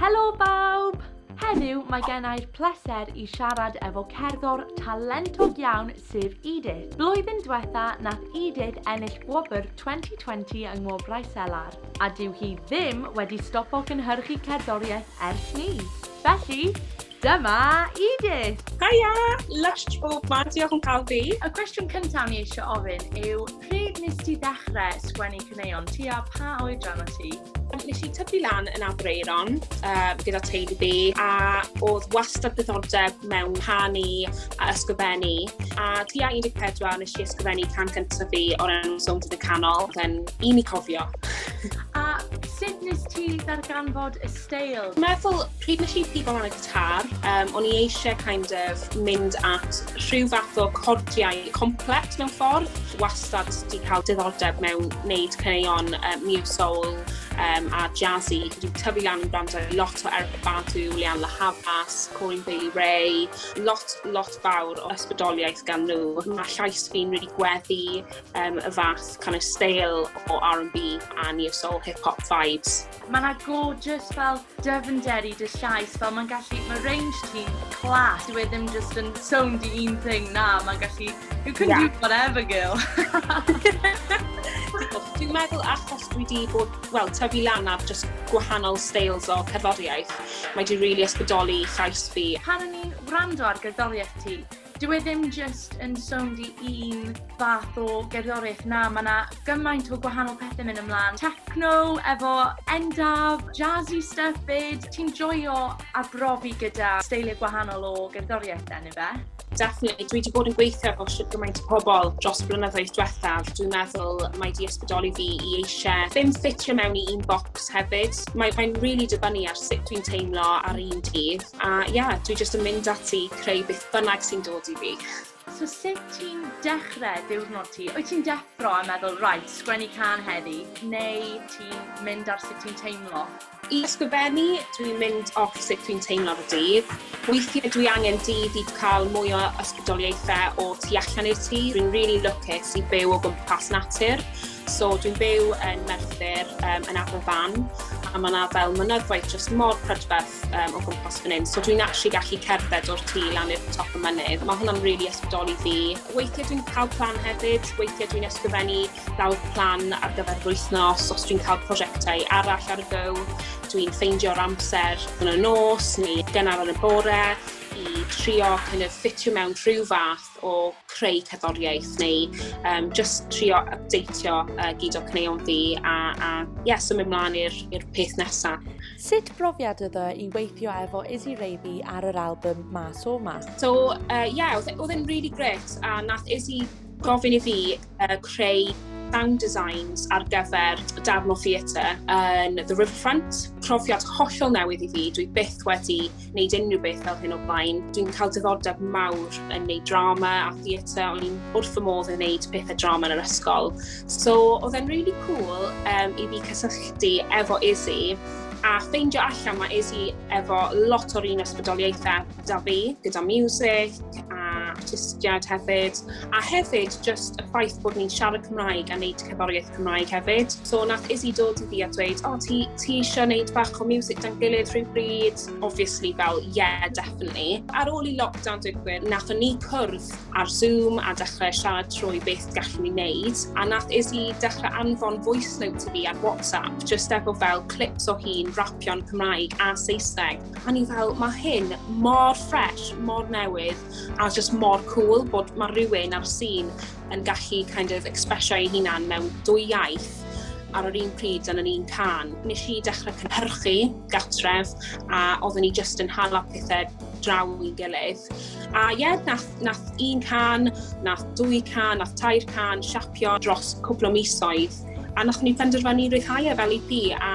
Helo bawb! Heddiw mae gen i'r pleser i siarad efo cerddor talentog iawn sef Edith. Blwyddyn diwetha nath Edith ennill gwobr 2020 yng Ngwobrau Selar, a dyw hi ddim wedi stopo cynhyrchu cerddoriaeth ers 'ny. Felly, dyma Edith! Haia! Lush bob man, diolch yn cael fi. Y cwestiwn cyntaf ni eisiau ofyn yw pryd nes ti ddechrau sgwennu caneuon, tua pa oedran o ti? Nes i tyfu lan yn Aberaeron um, gyda teulu fi a oedd wastad diddordeb mewn canu a ysgrifennu. A tua 14 nes i ysgrifennu can cyntaf fi o'r enw Sownd yn y Canol, gan un i cofio. a sut nes ti ddarganfod y steil? Meddwl, pryd nes i pigo lan y car. Um, o'n i eisiau kind of mynd at rhyw fath o cordiau complet mewn ffordd. Wastad wedi cael diddordeb mewn wneud caneuon um, new soul um, a jazzy. Dwi'n tyfu lan yn gwrando lot o Eric Badu, Leanne La Havas, Corey Bailey Ray, lot, lot fawr o ysbrydoliaeth gan nhw. Mae llais fi'n rili really gweddi um, y fath kind of stale o R&B a new soul hip-hop vibes. Mae 'na gorgeous fel dyfnder i dy llais, fel mae'n gallu... Mae range ti'n class, dyw e ddim just yn sownd i un thing, na, mae'n gallu... You can yeah. do whatever, girl. Dwi'n meddwl achos dwi wedi bod, wel, tyfu lan ar just gwahanol styles o cerddoriaeth, mae wedi rili really ysbrydoli llais fi. Pan o'n i'n wrando ar gerddoriaeth ti, Dyw e ddim jyst yn sownd i un fath o gerddoriaeth, na, ma' 'na gymaint o gwahanol pethe myn' ymlan, techno efo Endaf, jazzy stuff 'fyd, ti'n joio arbrofi gyda steilie gwahanol o gerddoriaeth then ife? Definitely. Dwi wedi bod yn gweithio efo shwt gymaint o pobl dros y blynyddoedd diwethaf. Dwi'n meddwl mae wedi ysbrydoli fi i eisiau ddim ffitio mewn i un bocs hefyd. Mae'n mae really dibynnu ar sut dwi'n teimlo ar un dydd. A ia, yeah, dwi jyst yn mynd ati creu beth bynnag sy'n dod i fi. So sut ti'n dechrau diwrnod ti? Wyt ti'n deffro a meddwl reit, sgwennu cân heddi, neu ti'n mynd ar sut ti'n teimlo? I ysgrifennu, dwi'n mynd off sut dwi'n teimlo ar y dydd. Weithiau dwi angen dydd i cael mwy o ysbrydoliaethau o tu allan i'r tŷ. Dwi'n rili lwcus i byw o gwmpas natur. So dwi'n byw yn Merthyr, um, yn Aberfan, a mae yna fel mynyddoedd just mor prydferth um, o gwmpas fan hyn. So dwi'n actually gallu cerdded o'r tî lan i'r top y mynydd. Mae hwnna'n rili really ysbrydoli fi. Weithiau dwi'n cael plan hefyd, weithiau dwi'n ysgrifennu fel plan ar gyfer yr wythnos, os dwi'n cael prosiectau arall ar y go, dwi'n ffeindio'r amser yn y nos neu gynnar yn y bore i trio kind of ffitio mewn rhyw fath waith o creu cerddoriaeth neu um, just trio updateio uh, gyd o cneuon fi a, a yeah, symud mlaen i'r peth nesaf. Sut brofiad ydw i weithio efo Izzy Reifi ar yr album Mas o Ma? So, uh, yeah, oedd e, e'n really great a nath Izzy gofyn i fi uh, creu sound designs ar gyfer darn o theatre yn The Riverfront. Profiad hollol newydd i fi, dwi byth wedi wneud unrhyw beth fel hyn o blaen. Dwi'n cael diddordeb mawr yn neud drama a theatre, o'n i'n wrth y modd yn neud pethau drama yn yr ysgol. So, oedd e'n really cool um, i fi cysylltu efo Izzy a ffeindio allan mae Izzy efo lot o'r un ysbrydoliaethau da fi, gyda music a artistiad hefyd. A hefyd, just y ffaith bod ni'n siarad Cymraeg a wneud cerddoriaeth Cymraeg hefyd. So, nath Izzy dod i fi a dweud, o, oh, ti, ti eisiau wneud bach o music dan gilydd rhywbryd? Obviously, fel, yeah, definitely. Ar ôl i lockdown digwydd, nath ni cwrdd ar Zoom a dechrau siarad trwy beth gallwn ni wneud. A nath Izzy dechrau anfon voice note i fi ar WhatsApp, just efo fel clips o hi'n rapio'n Cymraeg a Saesneg. A ni fel, mae hyn mor fresh, mor newydd, a oedd just mor cool bod mae rhywun ar y sîn yn gallu kind of expressio ei hunan mewn dwy iaith ar yr un pryd yn yr un can. Nes i dechrau cynhyrchu gatref a oeddwn ni just yn hala pethau draw i'n gilydd. A ie, yeah, nath, nath un can, nath dwy can, nath tair can siapio dros cwpl o misoedd. A nath ni penderfynu rhyddhau e fel EP a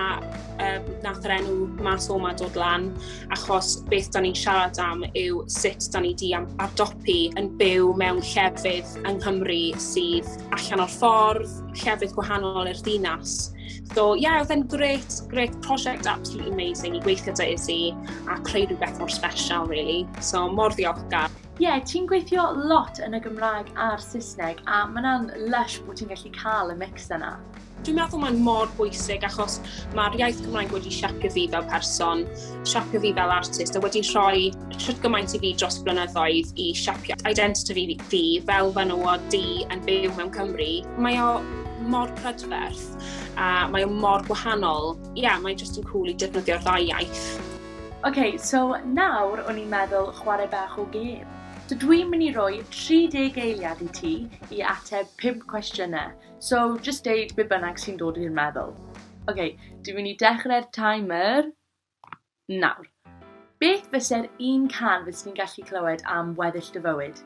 um, nath yr enw mas o'ma dod lan. achos beth da ni'n siarad am yw sut da ni di am ardopi yn byw mewn llefydd yng Nghymru sydd allan o'r ffordd, llefydd gwahanol i'r ddinas. So, ie, yeah, oedd e'n great, great prosiect, absolutely amazing i gweithio dy Izzy a creu rhywbeth mor special, really. So, mor ddiolchgar. Ie, yeah, ti'n gweithio lot yn y Gymraeg a'r Saesneg a mae'n lush bod ti'n gallu cael y mix yna. Dwi'n meddwl mae'n mor bwysig achos mae'r iaith Cymraeg wedi siapio fi fel person, siapio fi fel artist a wedi rhoi siwt gymaint i fi dros blynyddoedd i siapio identity fi, fi fel fan o di yn byw mewn Cymru. Mae o mor prydferth a mae o mor gwahanol. Ie, yeah, mae'n just yn cool i defnyddio'r ddau iaith. OK, so nawr o'n i'n meddwl chwarae bach o gêm. Dw i'n mynd i roi 30 eiliad i ti i ateb 5 cwestiynau. So, just deud be bynnag sy'n dod i'r meddwl. Ok, dwi'n mynd i dechrau'r timer nawr. Beth fyse'r un can fes ni'n gallu clywed am weddill dy fywyd?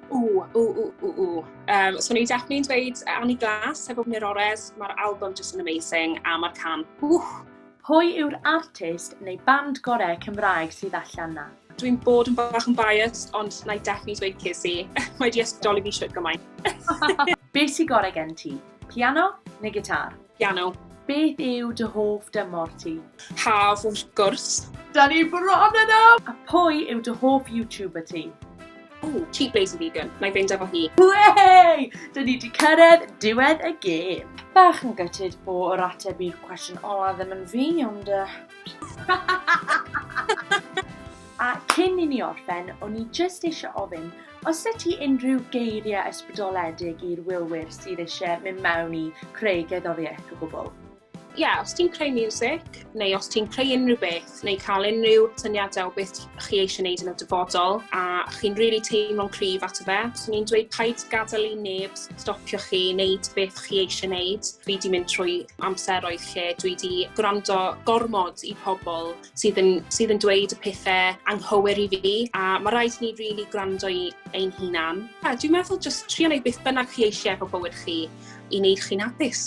O, o, o, o, o. Um, so, ni'n definitely dweud Annie Glass, heb ofn i'r ores, mae'r album just yn amazing, a mae'r can, wch, Pwy yw'r artist neu band gorau Cymraeg sydd allan na? Dwi'n bod yn bach yn biased, ond na i definitely dweud Casey. Mae di ysbrydoli fi siwt gymaint. Be sy gorau gen ti? Piano neu gitar? Piano. Beth yw dy hoff dymor ti? Haf, wrth gwrs. Da ni bron yno! A pwy yw dy hoff YouTuber ti? Ooh, cheap lazy vegan. Nai fynd efo hi. Whey! Dyn ni di cyrraedd diwedd y gêm. Bach yn gytid bo yr ateb i'r cwestiwn ola ddim yn fi, ond... A cyn i ni orffen, o'n i jyst eisiau ofyn, os ydy ti unrhyw geiriau ysbrydoledig i'r wylwyr sydd eisiau mynd mewn i creu gerddoriaeth o gwbl? Ie, yeah, os ti'n creu music, neu os ti'n creu unrhyw beth, neu cael unrhyw syniadau o beth chi eisiau gwneud yn y dyfodol, a chi'n rili really teimlo'n cryf at y fe, so ni'n dweud paid gadael i neb stopio chi wneud beth chi eisiau gwneud. Fi di mynd trwy amseroedd lle dwi di gwrando gormod i pobl sydd yn, sydd yn dweud y pethau anghywir i fi, a mae rhaid ni rili really gwrando i ein hunan. A dwi'n meddwl jyst trio wneud beth bynnag chi eisiau efo bywyd chi i wneud chi'n hapus.